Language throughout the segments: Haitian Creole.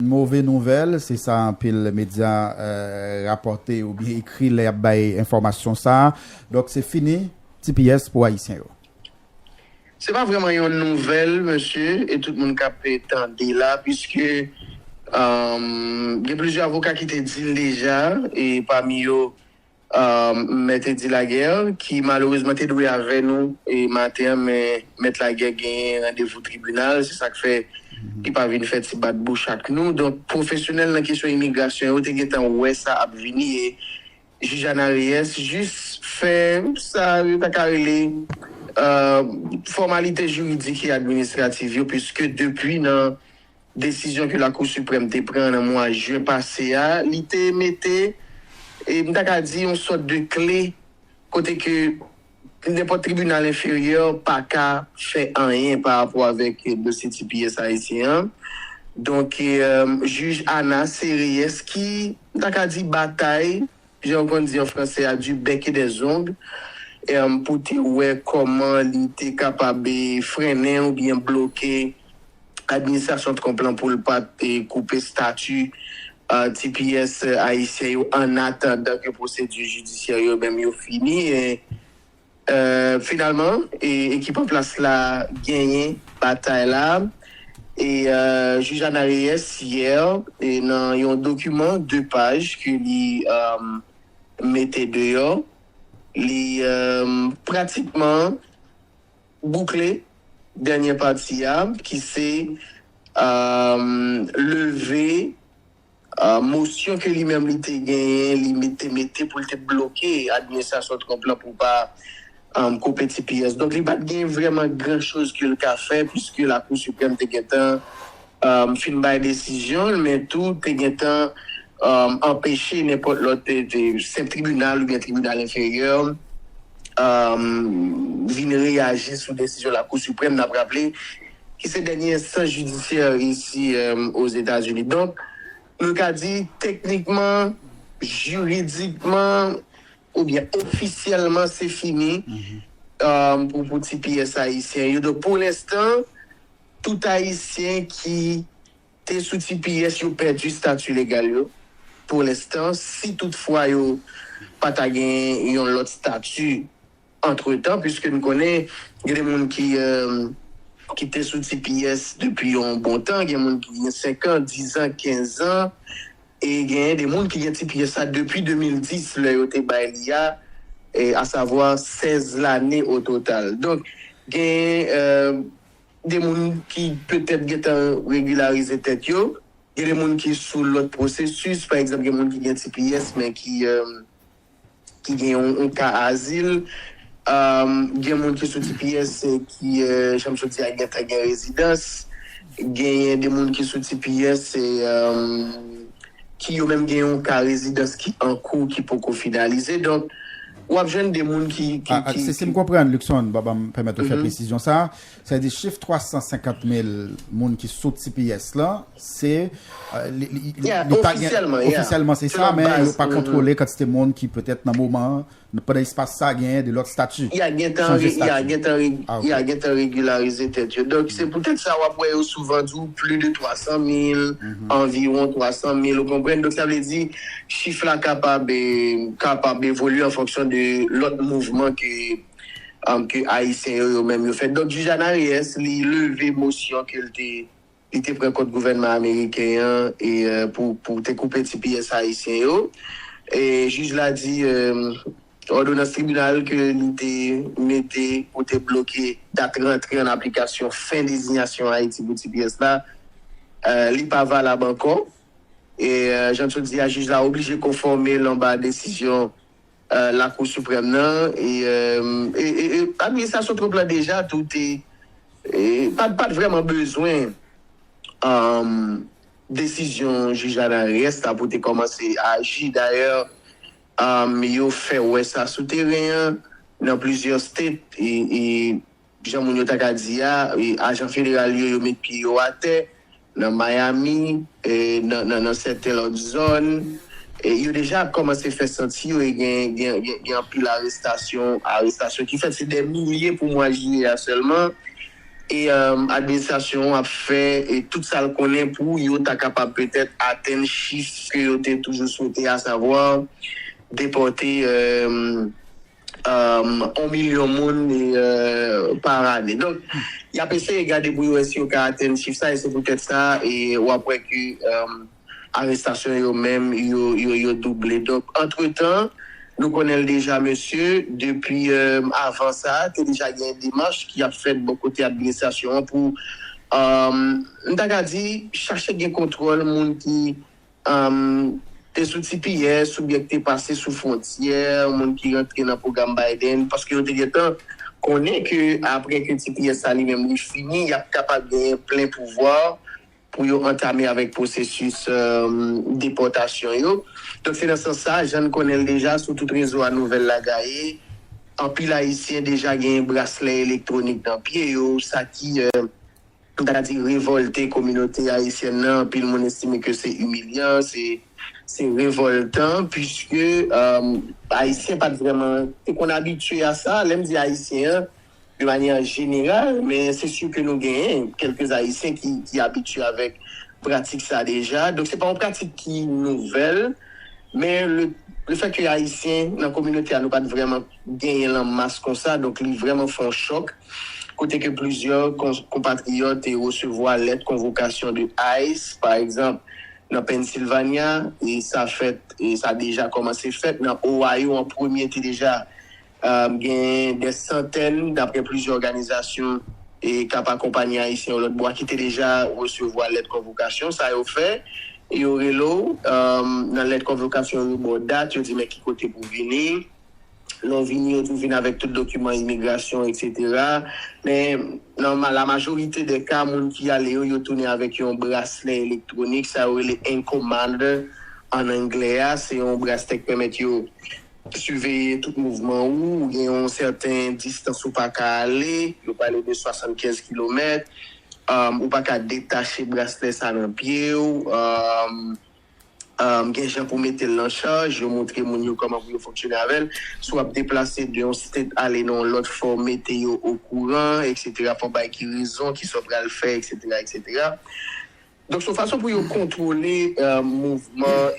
Move nouvèl, se sa anpil medya rapòte oubyen ekri lè y ap bay enfòmasyon sa a. Donk se fini tps pou Ayisyen yo. Se pa vrèman yon nouvèl mesye e tout moun k ap tande la piske gen plizyè avoka ki te di l deja e pami yo Mèt Eddy Laguerre ki malerezman te dwe avè nou maten an men Mèt Laguerre genyen randevou tribinal se sak fè li pa vin fè ti bat bouch ak nou donk pwofesyonèl nan kesyon imigrasyon yo te gentan wè sa ap vini e Jij Ana Reyes jis fè sa yo ta ka rele fòmalite jiridik e administrativ yo piske depi nan desizyon ke Lakou Siprèm te pran nan mwa jen pase a, li te mete, m ta ka di, yon sòt de kle kote ke nenpòt tribinal enferyè pa ka fè anyen pa rapò avèk dosye tps ayisyen an. Donk, jij Ana Sereyès ki, m ta ka di, batay jan yo konn di an fransè a, du bec et des ongles, pou te wè kòman li te kapab frennen oubyen bloke administrasyon Trump lan pou l pa t koupe stati tps ayisyen yo annatandan ke pwosedi jidisyè yo menm yo fini. Finalman ekip an plas la genyen batay la e Jij Ana Reyes yè nan yon dokiman 2 paj ke li mete deyò li pratikman boukle dènyè pati a ki se leve Mosyon ke li menm li te genyen li te mete pou li te bloke administrasyon Trump lan pou pa koupe tps. Donk li pat gen vreman gran choz ke li ka fè puiske Lakou Siprèm te gentan fin bay desizyon li men tou te gentan anpeche nenpòt lòt senp tribinal oubyen tribinal enferyè vin reyaji sou desizyon Lakou Siprèm. Nap raple ki se dènye enstans jidisyè isi Ozetazini. Donk, nou ka di teknikman, jiridikman oubyen ofisyèlman se fini pou ti pyès ayisyen yo. Donk, pou lenstan, tout ayisyen ki te sou ti pyès yo pèdi stati legal yo pou lenstan, si tout fwa yo pa ta gen yon lòt stati. Antretan, piske n konnen gen de moun ki ki te sou tps depi yon bon tan, gen moun ki gen senkan, dizan, kenzan e genyen de moun ki gen tps la depi 2010 lè yo te bay li a, asavwa sèz lane ototal. Donk, genyen de moun ki petèt gen tan regilarize tèt yo, gen de moun ki sou lòt pwosesis, pa egzanp gen moun ki gen tps men ki. ki gen yon ka azil, gen moun ki sou tps ki jan m sot di a gentan gen rezidans, genyen de moun ki sou tps ki yo menm gen yon ka rezidans ki ankou ki poko finalize donk w ap jwenn de moun ki. Si m konprann Luckson, ba m pèmèt ou fè presizyon sa a, Sa vle di chif 350 mil moun ki sou tps la, se, li pa gen, ofisyèlman se sa, men yo pa kontwole kantite moun ki petèt nan moman an, pandan espas sa genyen de lòt stati, chanje stati. Ya gentan regilarize tèt yo. Donk se poutèt sa wap wè yo souvan di w pli de 300 mil, anviwon 300 mil, ou konprann? Donk sa vle di chif la kapab, kapab evolye an fonksyon de lòt mouvman ke. ke ayisyen yo yo menm yo fèt. Donk jij Anariyès li leve mosyon ke l te li te pran kont gouvènman ameriken an e pou pou te koupe ti pyès ayisyen yo. E jij la di òdonans tribinal ke li te mete pou te bloke dat rantre an aplikasyon fen dezinyasyon Ayiti pou ti pyès la li pa valab ankò. E jan t yo di a jij la oblije konfòme l anba desizyon. Lakou Siprèm nan e administrasyon Trump la deja tou te pa t vrèman bezwen desizyon jij Anares la pou te kòmanse aji. Dayè, yo fè wè sa sou teren an nan plizyè state. Jan moun yo ta ka di a, ajan federal yo, yo met pye yo atè nan Miami, nan sèten lòt zòn. Yo deja ap kòmanse fè santi yo e gen anpil arestasyon ki fèt. Se dè milye pou mwa jiyè a sèlman. E administrasyon an ap fè tout sa l konnen pou yo ta kapab petèt atenn chif ke yo te toujou swete, asavwa depòte 1 milyon moun par ane. Donk, y ap eseye gade pou yo wè si yo ka atenn chif sa e se poutèt sa w ap wè ke arestasyon yo menm yo double. Donk, antretan, nou konnen l deja mesye, depi avan sa, te deja gen demach ki ap fèt bò kote administrasyon an pou, m ta ka di, chache gen kontwòl moun ki M te sou tps oubyen m te pase sou fwontyè, moun ki rantre nan pwogram Biden, paske yo te gentan konnen ke apre ke tps sa li menm li fini, y ap kapab genyen plen pouvwa pou yo antame avèk pwosesis depòtasyon yo. Donk se nan sans sa, jan n konnen l deja, sou tout rezo a nouvèl la gaye, anpil Ayisyen deja genyen braslè elektwonik nan pye yo, sa ki. m ta ka di revòlte kominote ayisyèn nan, anpil moun estime ke se imilyan, se revòltan, puiske ayisyen pa t vrèman te konn abitye a sa, lè m di ayisyen an de manyè jeneral, men se si ke nou genyen kèlke ayisyen ki abitye avèk pratik sa deja, donk se pa yon pratik ki nouvèl, men le fè ke ayisyen nan kominote a nou pa t vrèman genyen l an mas konsa, donk li vrèman fè yon chòk. kote ke plizyè konpatriyòt te resevwa lèt konvokasyon de ice pa egzanp nan Pennsylvania e sa fèt e sa deja kòmanse fèt nan Ohio an premye te deja genyen dè santèn daprè plizyè òganizasyon e kap akonpanye ayisyen yo lòt bò a ki te deja resevwa lèt konvokasyon sa yo fè yo rele w nan lèt konvokasyon yo ba w dat yo di men ki kote pou w vini. lè w vini yo tou vin avèk tout dokiman imigrasyon eksetera men nan la majorite dè ka moun ki ale yo yo tounen avèk yon braslè elektwonik sa yo rele ankle monitor an anglè a se yon braslè k pèmèt yo siveye tout mouvman ou ou gen yon sèten distans ou pa ka ale yo pale de 75 kilomèt ou pa ka detache braslè sa nan pye w. gen jan pou mete l nan chaj, yo montre moun yo kòman pou yo fonksyone avè l. Si w ap deplase de yon state ale nan yon lòt fò w mete yo okouran eksetera, fò w bay ki rezon, ki sa w pral fè eksetera eksetera. Donk se yon fason pou yo kontwole mouvman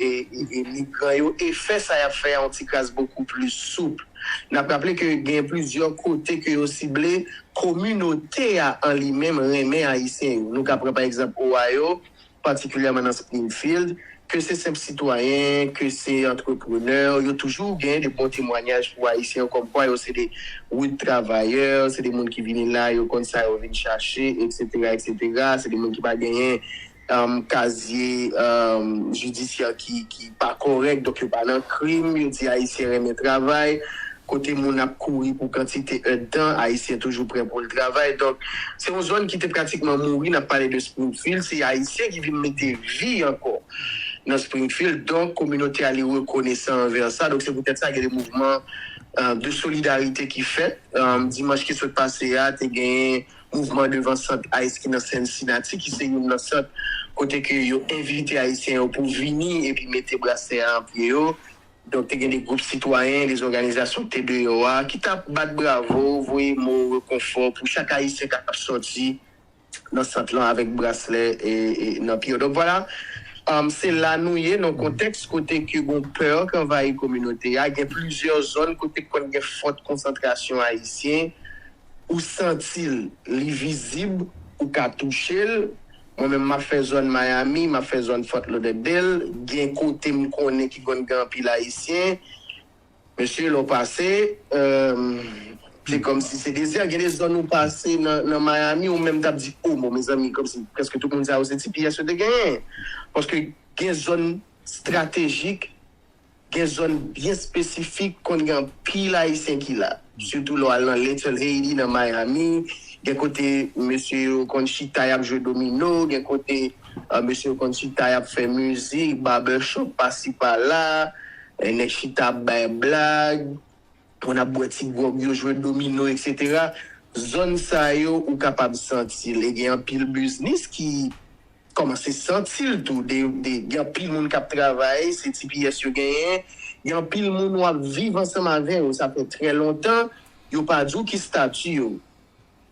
migran yo e fè sa y ap fè a yon tikras bokou plis soup. N ap raple ke gen plizyè kote ke yo sible kominote a an li menm renmen Ayisyen yo. Nou ka pran pa egzanp Ohio, patikilyèman nan Springfield, ke se senp sitwayen, ke se antreprenè, yo toujou gen de bon temwanyaj pou Ayisyen yo kòmkwa yo se de rud travayè, se de moun ki vini la, yo konn sa yo vin chache, eksetera, eksetera. Se de moun ki pa genyen kazye jidisyè ki pa kòrèk, donk yo pa nan krim, yo di Ayisyen renmen travay. kote moun ap kouri pou kantite èdtan, Ayisyen toujou prè pou l travay. Donk, se yon zòn ki te pratikman mouri, n ap pale de Springfield, se Ayisyen ki vin mete vi ankò nan Springfield. Donk, kominote a li rekonesan anvè sa. Donk, se poutèt sa gen de mouvman de solidarite ki fèt. Dimanch ki sot pase a, te genyen mouvman devan sant ice ki nan Cincinnati, ki se youn nan sant kote ke yo envite Ayisyen yo pou vini epi mete brasè a an pye yo. Donk te gen de gwoup sitwayen, de zòganizasyon ki te deyò a, ki t ap bat bravo, voye mo rekonfò pou chak Ayisyen k ap sòti nan sant lan avèk braslè nan pye yo. Donk vwala, se la nou ye, nan kontèks kote ke gon pè k anvayi kominote a, gen plizyè zòn kote k konn gen fòt konsantrasyon Ayisyen, ou santi l, li vizib, ou ka touche l. Mwen menm map fè zòn Miami, map fè zòn Fort Lauderdale, gen kote m konnen ki konn gen anpil ayisyen, mesye lè w pase se kòmsi se dezè, gen de zòn ou pase nan Miami ou menm tap di oh bon mezanmi kòmsi prèske tout moun sa yo se tps yo te genyen paske gen zòn stratejik Gen zòn byen espesifik konn gen anpil Ayisyen ki la. Sitou lè w al nan Little Haiti nan Miami, gen kote mesye yo konn chita y ap jwe domino, gen kote mesye yo konn chita y ap fè mizik, barbershop pasi pala, nèg chita ap bay blag. Moun ap bwè ti gwòg yo, jwe domino eksetera. Zòn sa yo ou kapab santi l e gen anpil biznis ki kòmanse santi l tou. Gen anpil moun k ap travay, se ti piyès yo genyen. Gen anpil moun w ap viv ansanm avè yo sa fè trè lontan, yo pa di w ki stati yo.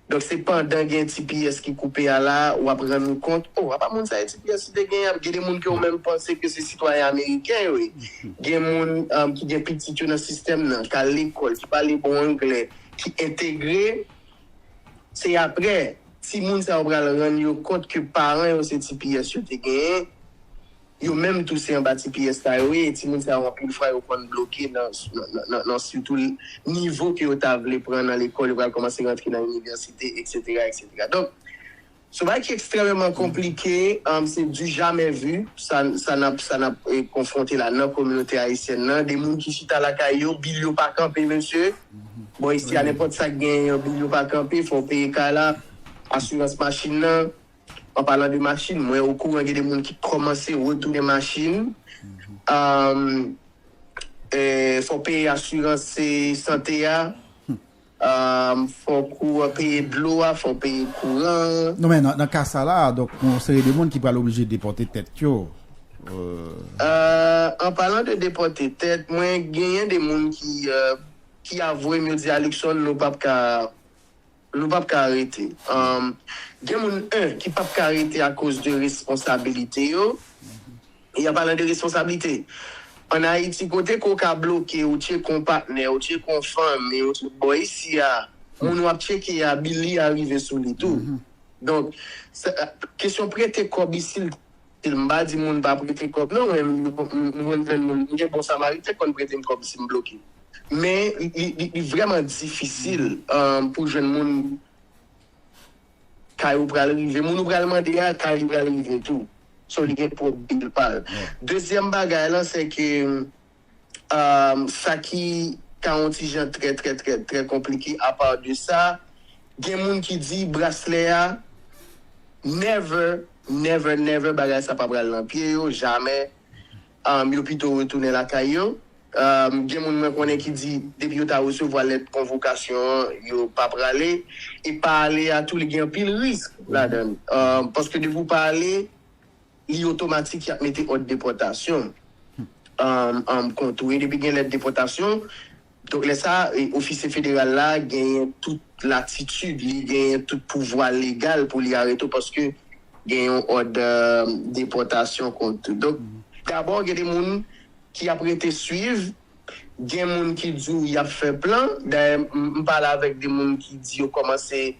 Donk se pandan gen ti pyès ki koupe a la wap rann ou kont oh apa moun sa e ti pyès li te gen ap gen de moun ke ou menm panse ke se sitwayen ameriken yo ye gen moun ki gen pitit yo nan sistèm nan kal lekòl ki pale bon anglè ki entegre se aprè ti moun sa yo pral rann yo kont ke paran yo se ti pyès yo te genyen. Yo menm tou se anba ti pyès sa yo ye e timoun sa yo anpil fwa yo konn bloke nan nan sitou nivo ke yo ta vle pran nan lekòl, yo pral kòmanse rantre nan inivèsite eksetera eksetera. Donk son bagay ki ekstrèmeman konplike, se du jamais vu sa sa nap sa nap konfwonte la nan kominote ayisyèn nan, de moun ki chita lakay yo, bil yo pa kanpe mesye, bon isi a nenpòt sak genyen yon bil yo pa kanpe, fòw peye kay la, asirans machin nan, An palan de machin, mwen okouran gen de moun ki kòmanse retounen machin. Fò w peye asirans sante a, fòk ou peye dlo a, fò w peye kouran an. Non men nan ka sa la, donk gen yon seri de moun ki pral oblije depòte tèt yo. An palan de depòte tèt, mwen genyen de moun ki avwe m, yo di a, Luckson nou pap ka. Nou pap ka rete. Gen moun 1 ki pap ka rete akoz de responsabilite yo. E an palan de responsabilite, an Ayiti kote ke w ka bloke, ou tyeke yon patnè, ou tyeke yon fanmi, ou tyeke, bò isi a, moun w ap tyeke a, bil li a rive sou li tou. Donk, kesyon prete kòb isi l. M pa di moun pa prete kòb non men m konn jwenn moun m gen bon samariten k konn prete m kòb si m bloke men li vrèman difisil pou jwenn moun kay ou pral rive moun ou pral mande a kay li pral rive tou so li gen pwòp bil pa l dezyèm bagay lan se ke sa ki ta yon ti jan trè trè trè trè konplike apa de sa gen moun ki di braslè a never never never bagay sa pa pral nan pye yo jamè yo pito retounen lakay yo gen moun mwen konnen ki di depi yo ta resevwa lèt konvokasyon an yo pa prale e pa ale a tou li gen anpil risk ladan paske depi ou pa ale. li otomatik yap mete òd depòtasyon an kont ou e depi gen lèt depòtasyon donk lè sa ofisye federal la genyen tout latitid li genyen tout pouvwa legal pou li arete w paske gen yon òd depòtasyon kont ou donk dabò gen de moun ki ap rete swiv gen moun ki di w yap fè plan dayè m pale avèk de moun ki di yo kòmanse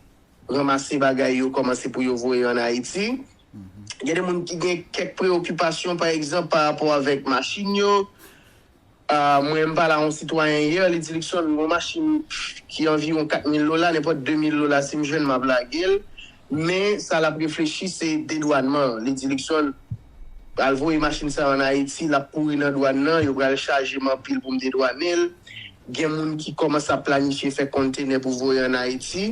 ranmase bagay yo kòmanse pou yo voye an Ayiti. Gen de moun ki gen kèk preyokipasyon pa egzanp pa rapò avèk machin yo. Mwen m pale a yon sitwayen yè, li di Luckson yon machin ki anviwon 4 mil dola, nenpòt 2 mil dola si m jwenn m ap lage l. Men sa l ap reflechi se dedwànman an. Li di Luckson al voye machin sa an Ayiti, l ap kouri nan dwàn nan, yo pral chaje m anpil pou m dedwane l. Gen moun ki kòmanse ap planifye fè konntenè pou voye an Ayiti.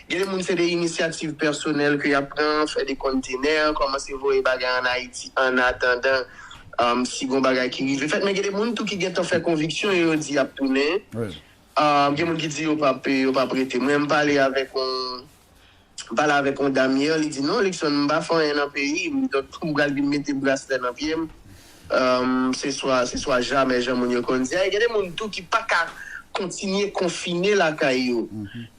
Gen de moun se de inisyativ pèsonèl ke yap pran, fè de konntenè, kòmanse voye bagay an Ayiti an atandan si gon bagay ki rive fèt. Men gen de moun tou ki gentan fè konviksyon yo, yo di yap tounen. Gen moun ki di yo pap yo pap rete. Mwen pale avèk yon m pale avèk yon dam yè, li di non Luckson m pa fè anyen nan peyi m, donk pou m pral vin mete braslè nan pye m se swa se swa jamè jan moun yo konn di a. E gen de moun tou ki paka kontinye konfine lakay yo.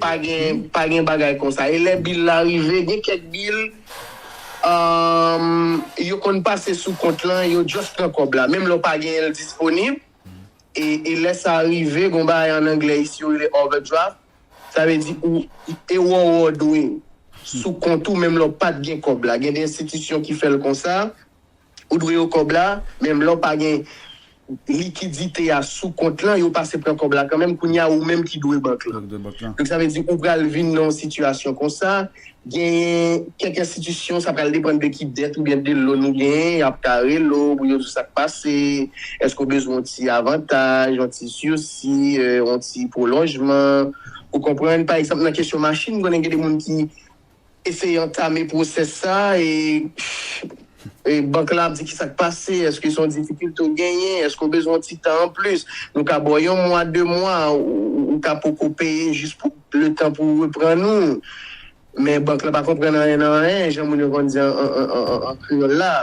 Pa gen pa gen bagay konsa. E lè bil la rive, gen kèk bil umm yo konn pase sou kont lan, yo just pran kòb la, menm lè w pa genyen l disponib, e e lè sa rive gon bagay an anglè isi yo rele overdraft, sa vle di ou e wè w dwe sou kont ou menm lè w pat gen kòb la. Gen de enstitisyon ki fè l konsa. Ou dwe yo kòb la, menm lè w pa gen likidite a sou kont lan, yo pase pran kòb la kanmenm, kounye a ou menm ki dwe bank lan. Donk sa vle di ou pral vin nan yon sitiyasyon konsa, genyen kèk enstitisyon sa pral depann de ki dèt oubyen de lon ou genyen, y ap ka rele w pou yo di w sa k pase, èske w bezwen yon ti avantaj, yon ti sirsi, yon ti pwolonjman, ou konprann? Pa egzanp nan kesyon machin, m konnen gen de moun ki. eseye antame pwosès sa a e bank la ap di kisa k pase, èske se yon difikilte ou genyen, èske ou bezwen yon ti tan anplis, nou ka ba w yon mwa, de mwa, ou ka poko peye jis pou letan pou ou reprann ou. Men bank la pa konprann anyen nan anyen, jan moun yo konn di an kreyòl la.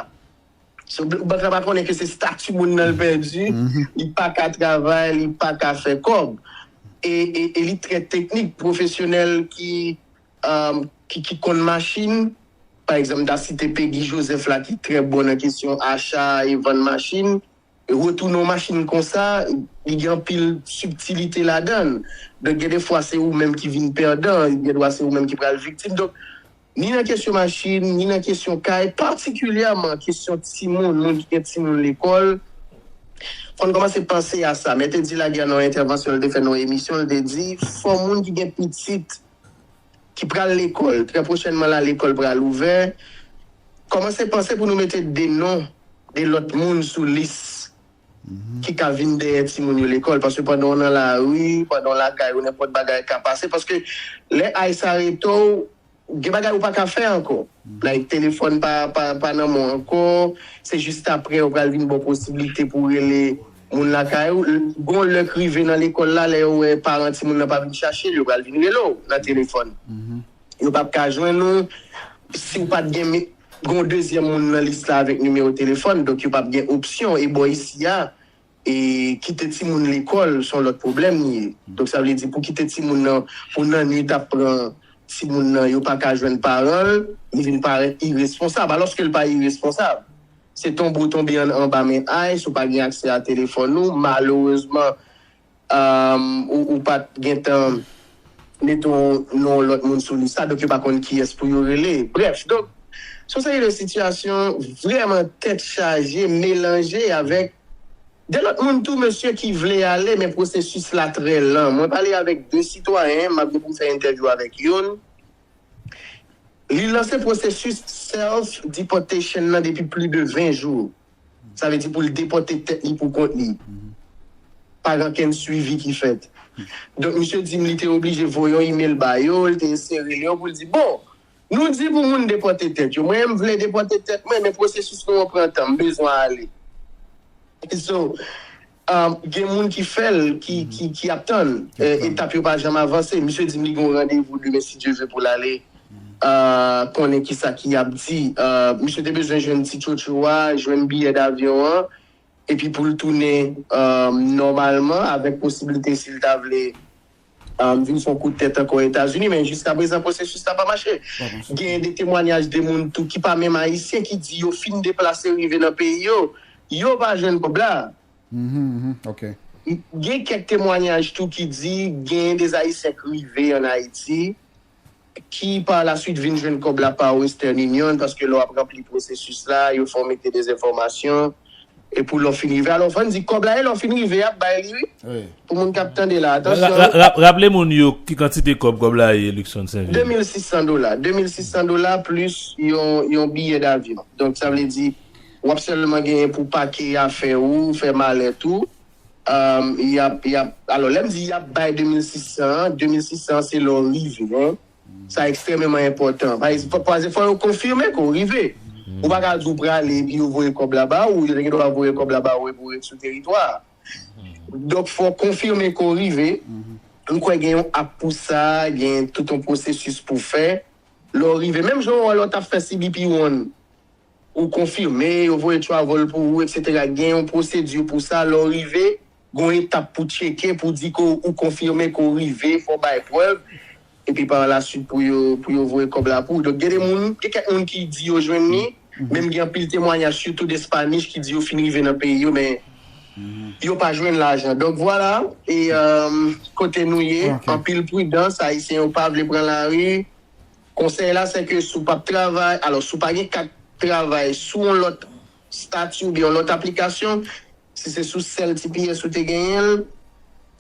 So, bank la pa konnen ke se stati moun nan l pèdi, li pa ka travay, li pa ka fè kòb. E li trè teknik, pwofesyonèl ki ki konn machin, pa egzanp m ta site Pegi Jozèf la ki trè bon nan kesyon acha e vann machin, retounen yon machin konsa li gen anpil sibtilite ladan l, donk gen de fwa se ou menm ki vin pèdan, gen dwa se ou menm ki pral viktim, donk ni nan kesyon machin, ni nan kesyon kay, patikilyèman kesyon timoun, moun ki gen timoun lekòl, fò n kòmanse panse a sa, Mèt Eddy Laguerre nan yon entèvansyon l te fè nan yon emisyon l te di fò moun ki gen pitit. ki pral lekòl trè pwochènman la, lekòl pral ouvè, kòmanse panse pou nou mete de non de lòt moun sou lis ki ka vin dèyè timoun yo lekòl. Paske pandan w nan lari, pandan w lakay ou, nenpòt bagay ka pase. Paske lè aj sa rete w, gen bagay ou pa ka fè ankò. Like telefòn pa nan men w ankò, se jis apre ou pral vin gen posiblite pou w rele. Moun lakay ou, gon lè k rive nan lekòl la, lè yo wè paran timoun nan pa vin chache l, yo pral vin rele w nan telefòn. Yo p ap ka jwenn ou si w pa t gen yon dezyèm moun nan lis la avèk nimewo telefòn. Donk yo p ap gen opsyon. E bò isi a, kite timoun lekòl s on lòt pwoblèm li ye. Donk sa vle di pou kite timoun nan pou nannuit ap pran timoun nan, yo pa ka jwenn paran l, li vin parèt iresponsab. Alòske l pa iresponsab. Se tonbe w tonbe an anba men ice ou pa gen aksè a telefòn ou malerezman ou pat gentan mete yon non lòt moun sou lis la donk yo pa konn kiyès pou yo rele brèf donk se yon seri de sitiyasyon vrèman tèt chaje melanje avèk de lòt moun tou mesye ki vle ale men pwosesis la trè lan mwen pale avèk 2 sitwayen map gen pou m fè entèvyou avèk youn Li lanse pwosesis self deportation nan depi pli de 20 jou. Sa vle di pou l depòte tèt li pou kont li. Pa gen okenn swivi ki fèt. Donk misye di m li te oblije voye yon imel ba yo, li te eseye rele yo pou l di, bon, nou di pou moun depòte tèt yo. Mwen menm m vle depòte tèt mwen men pwosesis nou an pran tan, m bezwen ale. So, Gen moun ki fè l, ki ap tann. Etap yo pa janm avanse. Misye di m li gen yon randevou demen si Dye ve pou l ale konnen ki sa ki ap di. Misye te bezwen jwenn ti tchotcho a, jwenn biyè davyon an epi pou l tounen nòmalman avèk posiblite si l ta vle Ahm vin son kout tèt ankò etazini men jiska prezan pwosesis la pa mache. Genyen de temwanyaj de moun tou ki pa menm ayisyen ki di yo fin deplase rive nan peyi yo, yo pa jwenn kob la. Gen kèk temwanyaj tou ki di genyen de ayisyen k rive an ayiti. ki par la suite vin jwenn kòb la par Western Union, paske lè w ap ranpli pwosesis la, yo fè w mete de enfòmasyon, e pou lè w fin rive, alò fò n di kòb la e lè w fin rive y ap bay li wi, pou moun k ap tande la, atansyon wi. Raple moun yo ki kantite kòb kòb la ye Luckson St. Vil. 2600 dola, 2600 dola plis yon biyè davyon, donk sa vle di w ap sèlman genyen pou pake afè ou, fè malèt ou. Y ap, y ap, alò lè m di y ap bay 2600 an, 2600 an se lè w rive an, sa ekstrèmeman enpòtan. Pase fò yo konfime ke w rive. Ou pa ka di w prale epi yo voye kòb la ba ou, yo te gen dwa voye kòb la ba ou epi w ret sou teritwa a. Donk fò w konfime ke w rive, m kwè gen yon ap pou sa, gen tout yon pwosesis pou w fè lè w rive. Menm jan ou wè lè w t ap fè CBP One. Ou konfime, yo voye travel pou ou, eksetera Gen yon pwosedi pou sa, lè w rive, gen yon etap pou tcheke pou di ke ou konfime ke w rive, fò w bay prèv, epi par la suite pou yo pou yo voye kòb la pou ou. Donk gen de moun, gen kèk moun ki di yo jwenn li, menm gen anpil temwanyaj sitou de Spanish ki di yo fin rive nan peyi yo men yo pa jwenn lajan. Donk vwala e kote nou ye, anpil pridans, Ayisyen yo pa vle pran lari. Konsèy la se ke si w pap travay, alò si w pa gen kat travay sou yon lòt stati oubyen yon lòt aplikasyon, si se sou sèl tps ou te genyen l,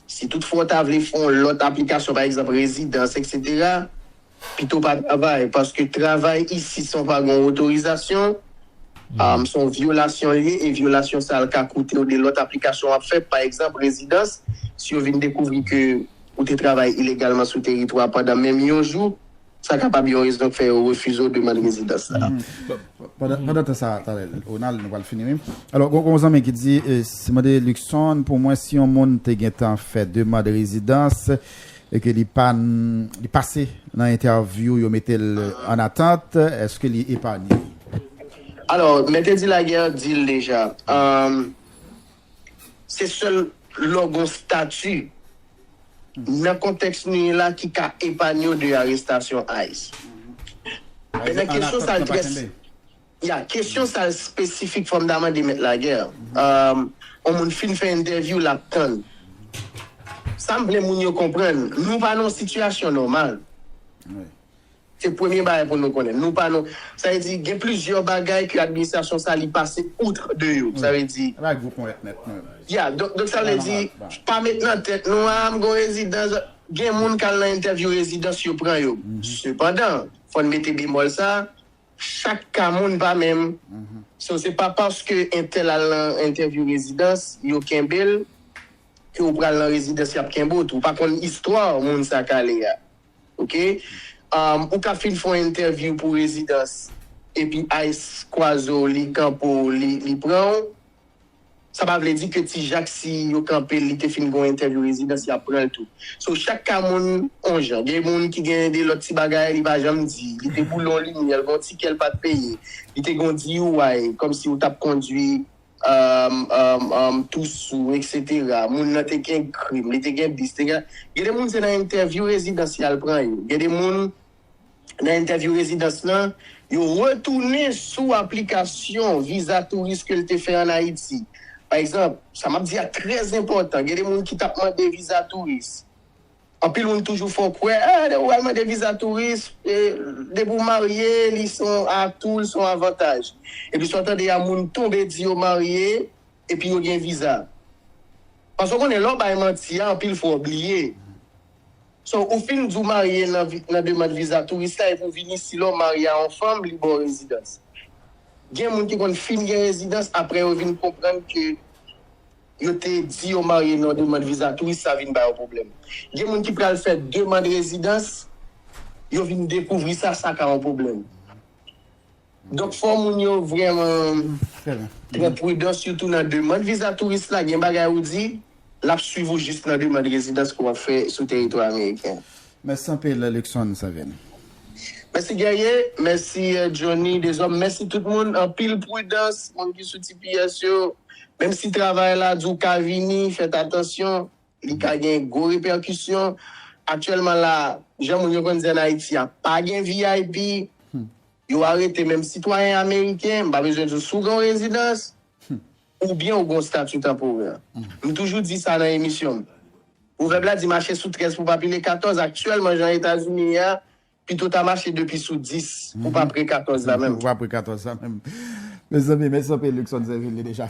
si tout fwa w ta vle fè yon lòt aplikasyon pa egzanp rezidans eksetera, pito w pa travay paske travay isi san w pa gen yon otorizasyon, se yon vyolasyon l ye e vyolasyon sa l ka koute w de lòt aplikasyon w ap fè pa egzanp rezidans si yo vin dekouvri ke ou te travay ilegalman sou teritwa pandan menm yon jou, sa kapab yon rezon k fè yo refize w demand rezidans sa a. Pandan tan sa a, talè, Ronald, nou pral fini wi. Alò, gen yon zanmi ki di, Se mande Luckson pou mwen si yon moun te gentan fè demand rezidans e ke li pa li pase nan entèvyou yo mete l an atant, èske li epanye? Alò, Mèt Eddy Laguerre di l deja, Se sèl lè w gen yon stati nan kontèks nou ye la ki ka epanye w de arestasyon ice. Mèt la kesyon sa l trè Ya, kesyon sa l spesifik fò m ta mande Mèt Laguerre. Yon moun fin fè entèvyou l ap tann. Sa m vle moun yo konprann, nou pa nan yon sitiyasyon nòmal. Se premye bagay pou nou konnen. Nou pa nou, sa vle di gen plizyè bagay ke administrasyon sa li pase outre de yo. Sa vle di. Ala gwo ponyèt mèt nou yo. Yeah, donk donk sa vle di pa met nan tèt nou a m gon rezidans, gen moun k al nan entèvyou rezidans yo pran yo. Sepandan, fò n mete bemòl sa, chak ka moun pa menm. So se pa paske entèl al nan entèvyou rezidans, yo kenbe l, ke ou pral nan rezidans y ap kenbe w tou. Ou pa konn istwa moun sa k ale a. Ok ou ka fin fon entèvyou pou rezidans epi ice kwaze w li kanpe w li pran w sa pa vle di ke ti jak si yo kanpe l li te fin gon entèvyou rezidans yap pran l tou so chak ka moun on jan gen moun ki gen de lòt ti bagay li pa janm di li te boule on limyè l gon tikè l pat peye li te gon DUI kòmsi w tap kondwi Amm tou sou etc moun nan te gen krim li te gen bis te gen gen de moun se nan entèvyou rezidans yal pran yo gen de moun nan entèvyou rezidans lan yo retounen sou aplikasyon viza touris kel te fè an ayiti pa egzanp sa map di a trè zenpòtan gen de moun ki tap mande viza touris. Anpil moun toujou fè w kwè ah depi w al mande viza touris, depi w marye li se yon atou, li se yon avantaj. Epi sa w tande a moun tonbe di yo marye epi yo gen viza. Paske w konnen lè w bay manti a anpil fwa w bliye. So ou fin di w marye nan demand viza touris la epi w vin isi la w marye a yon fanm li ba w rezidans. Gen moun ki konn fin gen rezidans aprè yo vin konprann ke. Yo te di yo marye nan demand viza touris sa vin ba yo pwoblèm. Gen moun ki pral fè demand rezidans, yo vin dekouvri sa, sa ka yon pwoblèm. Donk fò moun yo vrèman pran pridan sitou nan demand viza touris la, gen bagay ou di, l ap swiv ou jis nan demand rezidans ke w ap fè sou teritwa ameriken an. Mèsi anpil Luckson Seven. Mèsi Guerrier, mèsi Johnny Deshommes, mèsi tout moun, anpil prudans moun ki sou tps yo, menm si travay la di w ka vini, fèt atansyon, li ka gen gwo repèkisyon, aktyèlman la, jan moun yo konn di an Ayiti a, pa gen vip, yo arete menm sitwayen ameriken, m pa bezwen di w si w gen yon rezidans, Oubyen ou gen yon stati tanporè. M toujou di sa nan emisyon m. Pwovèb la di mache sou 13 pou w pa pile 14. Aktyèlman, jan Etazini ye a, pito ta mache depi sou 10 pou w pa pre 14 la menm. Pou w pa pre 14 la menm. Mezanmi, mèsi anpil Luckson Zèvil. Li deja.